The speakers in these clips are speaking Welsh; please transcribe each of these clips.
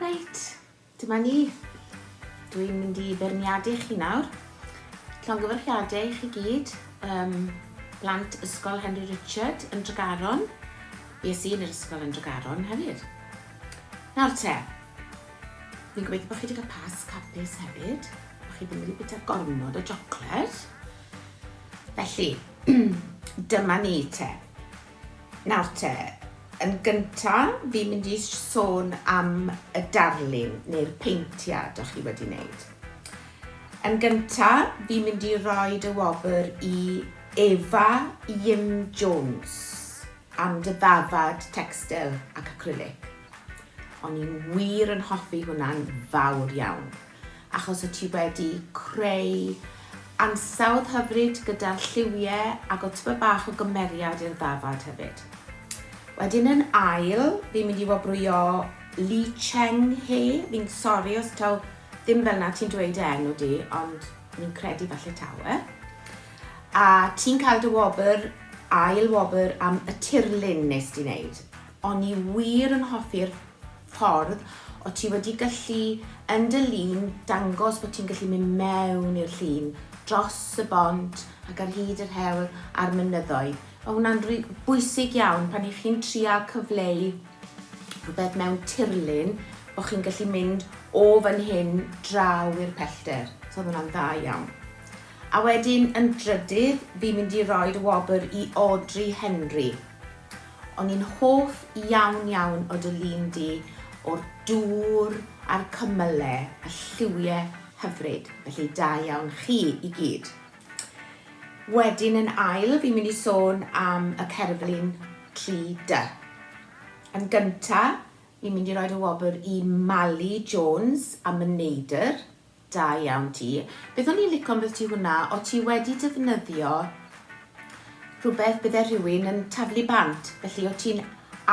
Reit, dyma ni. Dwi'n mynd i feirniadu chi nawr. Llongyfarchiadau i chi gyd, um, blant Ysgol Henry Richard yn Dregaron. Ie, sy'n yr ysgol yn Dregaron hefyd. Nawr te, fi'n gobeithio bod chi wedi cael pas capus hefyd. O'ch chi ddim wedi bwyta gormod o jocled. Felly, dyma ni te. Nawr te, yn gyntaf, fi'n mynd i sôn am y darlun neu'r peintiad o'ch chi wedi wneud. Yn gyntaf, fi'n mynd i roi dy wobr i Eva Yim Jones am dy ddafad textil ac acrylic. O'n i'n wir yn hoffi hwnna'n fawr iawn. achos o ti wedi creu ansawdd hyfryd gyda'r lliwie ag o tyma bach o gymeriad i'r ddafad hefyd. Wedyn yn ail, fi'n mynd i wobrwyo Li Cheng He, fi'n sori os taw ddim fel na ti'n dweud e enw di, ond fi'n credu falle taw e. A ti'n cael dy wobr, ail wobr am y tirlun nes di wneud. O'n i wir yn hoffi'r ffordd o ti wedi gallu yn dy lun dangos bod ti'n gallu mynd mewn i'r llun, dros y bont ac ar hyd yr hewl a'r mynyddoedd. Mae hwnna'n rhy- bwysig iawn pan i chi'n trial cyfleu rhywbeth mewn tirlun, bod chi'n gallu mynd o fan hyn draw i'r pellter. So oedd hwnna'n dda iawn. A wedyn yn drydydd, fi'n mynd i roi'r wobr i Audrey Henry. O'n i'n hoff iawn iawn o dy lun di o'r dŵr a'r cymyle a lliwie hyfryd, felly da iawn chi i gyd. Wedyn yn ail fi'n mynd i sôn am y cerflun tri dy. Yn gynta fi'n mynd i roed y wobr i Mali Jones am y neidr. Da iawn ti. Beth o'n i'n lico ambyti hwnna, o' ti wedi defnyddio rhywbeth bydde rhywun yn taflu bant, felly o' ti'n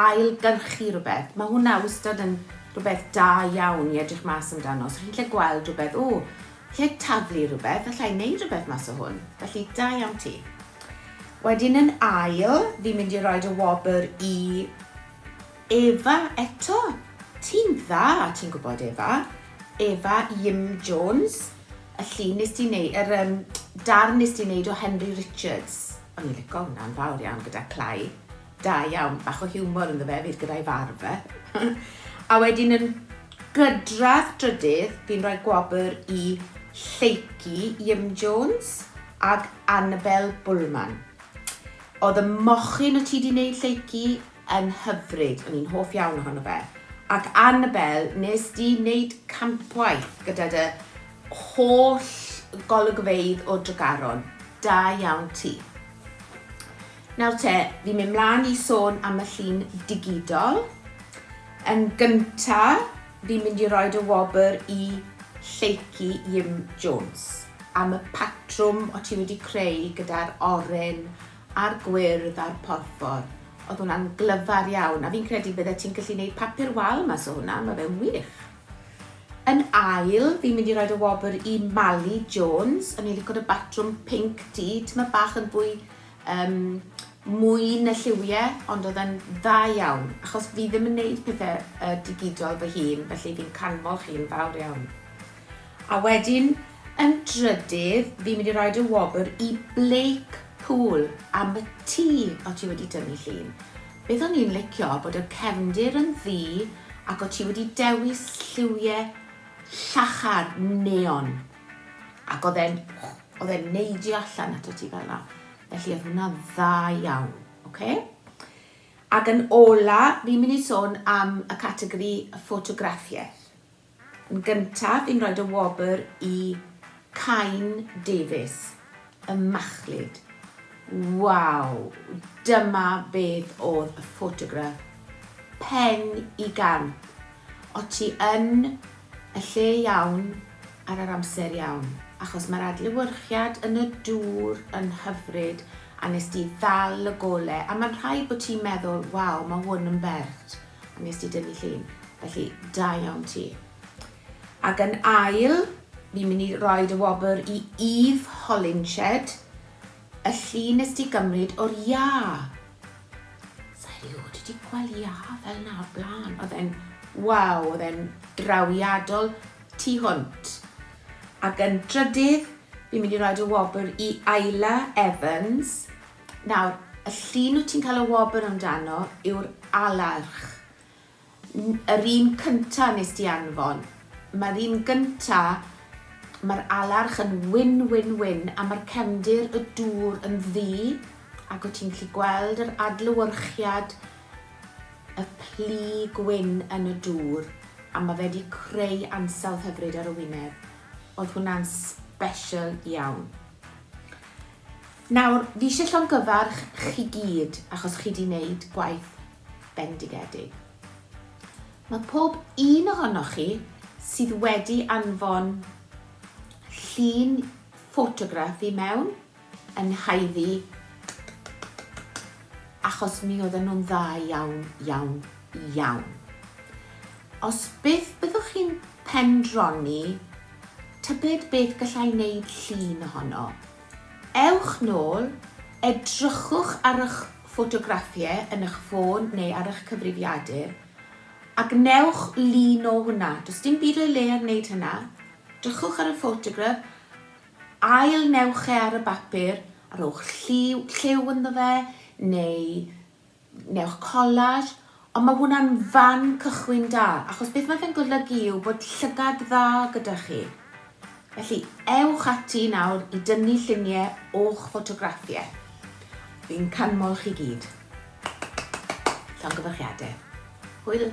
ail-gyrchu rhywbeth. Mae hwnna wastad yn rhywbeth da iawn i edrych mas amdano. So chi'n lle gweld rhywbeth, o, lle taflu rhywbeth, allai wneud rhywbeth mas o hwn. Felly, da iawn ti. Wedyn yn ail, fi'n mynd i roed y wobr i Efa eto! Ti'n dda, ti'n gwybod, Efa. Efa Iym Jones. Y llun nes di wneud, yr um, darn nes di wneud o Henry Richards. O'n i'n lico hwnna'n fawr iawn gyda clai. Da iawn, bach o hiwmor ynddo fe, fydd gyda'i farf fe. a wedyn yn gydradd drydydd, fi'n rhoi gwobr i Lleiki Iym Jones ag Annabel Bullman. Oedd y mochyn o ti di wneud Lleiki yn hyfryd, o'n i'n hoff iawn ohono fe. Ac Annabelle, nes di wneud campwaith gyda dy holl golygfeydd o Dregaron. Da iawn ti. Nawr te, fi'n mynd mlaen i sôn am y llun digidol. Yn gynta, fi'n mynd i roed y wobr i Lleucu Jim Jones am y patrwm o ti wedi creu gyda'r oren a'r gwyrdd a'r porffor. Oedd hwnna'n glyfar iawn, a fi'n credu bydde ti'n gallu neud papur wal mas o hwnna, ma' fe'n wych. Yn ail, fi'n mynd i roed y wobr i Mali Jones, o'n i'n lico dy batrwm pinc di, t'ma' bach yn fwy um, mwy na lliwie, ond oedd yn dda iawn, achos fi ddim yn neud pethau uh, digidol fy hun, felly fi'n canmol chi'n fawr iawn. A wedyn yn drydydd fi'n mynd i roi dy wobr i Blake Pool am y ti o ti wedi tynnu llun. Beth o'n i'n licio bod y cefndir yn ddu ac o ti wedi dewis lliwie llachar neon ac oedd e'n oedd e'n neidio allan ato ti fel yna. Felly oedd hwnna dda iawn. Okay? Ac yn ola fi'n mynd i sôn am y categori ffotograffiaeth. Yn gyntaf fi'n rhoid y wobr i Cain Davies, y machlud. Waw! Dyma beth oedd y ffotograff. Pen i gamp. O ti yn y lle iawn ar yr amser iawn. Achos mae'r adlewyrchiad yn y dŵr yn hyfryd a wnest ti ddal y gole a mae'n rhaid bod ti'n meddwl waw mae hwn yn bert. Wnest ti dynnu llun, felly da iawn ti. Ac yn ail, fi'n mynd i roi dy wobr i Eve Hollinshed, y llun nes ti gymryd o'r iâ. Sa i rioed wedi gweld iâ fel na o'r blaen. Oedd e'n, waw, oedd e'n drawiadol tu hwnt. Ac yn drydydd, fi'n mynd i roi dy wobr i Ayla Evans, Nawr, y llun wyt ti'n cael y wobr amdano yw'r alerch. N- yr un cynta nes di anfon. Mae'r un gynta, mae'r alerch yn wyn, wyn, wyn, a mae'r cefndir y dŵr yn ddu, ac wyt ti'n gallu gweld yr adlewyrchiad y plu gwyn yn y dŵr, a mae fe wedi creu ansawdd hyfryd ar y wyneb. Oedd hwnna'n special iawn. Nawr, fi isie llongyfarch chi gyd achos chi 'di neud gwaith bendigedig. Mae pob un ohonoch chi sydd wedi anfon llun ffotograff i mewn yn haeddu achos mi oedden nhw'n dda iawn, iawn, iawn. Os byth byddwch chi'n pendroni tybed beth gallai wneud llun ohono, Ewch nôl, edrychwch ar eich ffotograffiau yn eich ffôn neu ar eich cyfrifiadur a gwnewch lun o hwnna. Does dim byd o'i le ar wneud hynna. Drychwch ar y ffotograff, ail-newch e ar y bapur a rhowch lliw, lliw ynddo fe neu newch collage, ond mae hwnna'n fan cychwyn da, achos beth mae fe'n golygu yw bod llygad dda gyda chi. Felly, ewch ati nawr i dynnu lluniau o'ch ffotograffiau. Fi'n canmol chi gyd. Llongyfarchiadau. Hwyl!